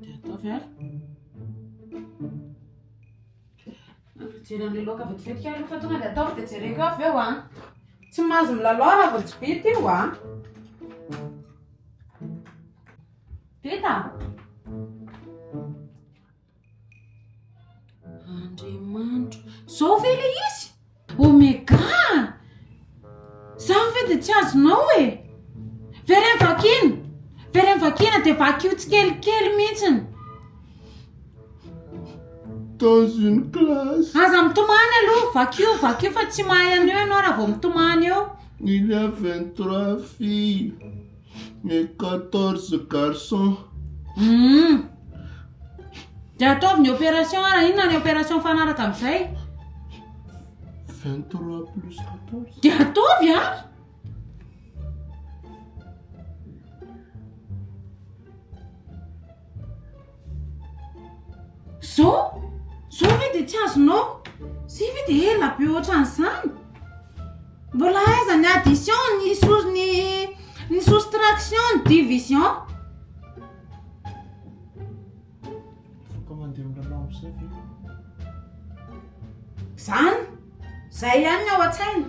Dia ataovy ary. Mijery an'ilay loaka vetivetika ary rehefa tonga dia ataovy dia jereko avy eo an. Tsy mahazo milalao raha vao tsy bety io an. Vita? Andriamanitro. Zao ve le izy? Omega! Zany ve de tsy azonao e? Very am vakina! Very am vakina de vakio tsikelikely mihitsiny. Dans une classe. Aza mitomany aloha, vakio, vakio fa tsy mahay an'io ianao raha vao mitomany eo. Il y a 23 filles. Mes quatorze garçons. Hum. Dia ataovy ny opération ara inona ny opération mifanaraka amin'izay? Vingt trois plus quatorze. Dia ataovy an! Zao? Zao ve dia tsy azonao? Zay ve dia ela be ohatran'izany? Mbola aiza ny addition, ny sous- ny ny soustraction, ny division? Afaka mandeha milalao amin'izay ve ianao? Izany? Izay ihany ny ao an-tsaina?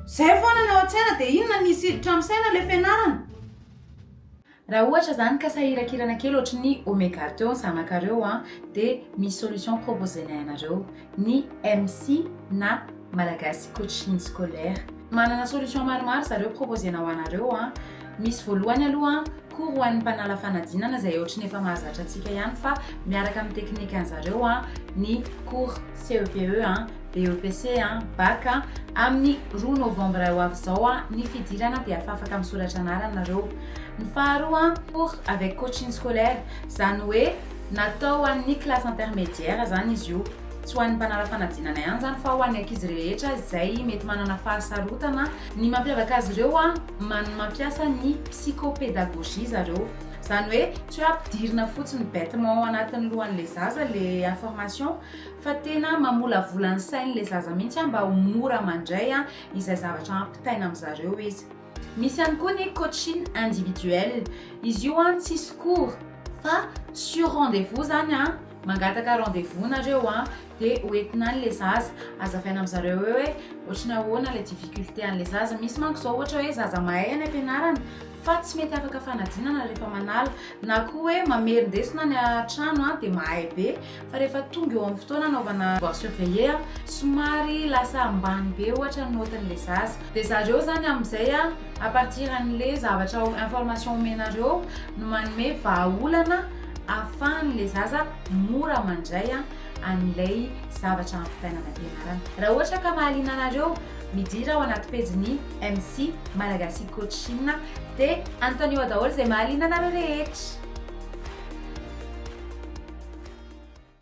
Izay foana ny ao an-tsaina dia inona ny hisiditra amin'ny saina ilay fianarana? Raha ohatra zany ka sahirakirana kely ohatry ny Omega teo ny zanakareo an, dia misy solution proposenay anareo ny MC na Malagasy Coaching Scolaire. Manana solution maromaro zareo proposena ho anareo an. Misy voalohany aloha an, cours ho an'ny mpanala fanadinana izay ohatry ny efa mahazatra antsika ihany fa miaraka amin'ny teknikan'zareo an, ny cours CEPE an. BEPC an, Bac an, amin'ny roa novembre ho avy izao an, ny fidirana dia afafaka misoratra anarana nareo. Ny faharoa an, cours avec coaching scolaire, izany hoe natao ho an'ny classe intermédiaire izany izy io. Tsy ho an'ny mpanala fanadinana ihany izany fa ho an'ny ankizy rehetra izay mety manana fahasarotana. Ny mampiavaka azy ireo an, man mampiasa ny psychopédagogie zareo. Izany hoe tsy hoe ampidirina fotsiny bêtement ao anatin'ny lohan'ilay zaza ilay information, Fa tena mamolavola ny sainy le zaza mihitsy mba ho mora mandray izay zavatra ampitaina amin'zareo izy. Misy ihany koa ny coaching individuel. Izy io an tsisy cours fa sur rendez-vous zany an, mangataka rendez-vous nareo an de hoentina any le zaza, azavaina amin'zareo eo hoe ohatry ny ahoana le difficulté an'le zaza. Misy manko zao ohatra hoe zaza mahay any ampianarana fa tsy mety afaka fanadinana rehefa manala na koa hoe mamerindesina any an-trano an de mahay be. Fa rehefa tonga eo amin'ny fotoana anaovana devoir surveillé, somary lasa ambany be ohatra ny note-n'ilay zaza. Dia zareo zany amin'izay a partir an'ilay zavatra information omenareo no manome vahaolana ahafahan'ilay zaza mora mandray an'ilay zavatra ampitaina any am-pianarana. Raha ohatra ka mahaliana anareo, midira ao anaty pejin'i. MC, Malagasy Coach Inona? Dia anontanio ao daholo izay mahaliana anareo rehetra.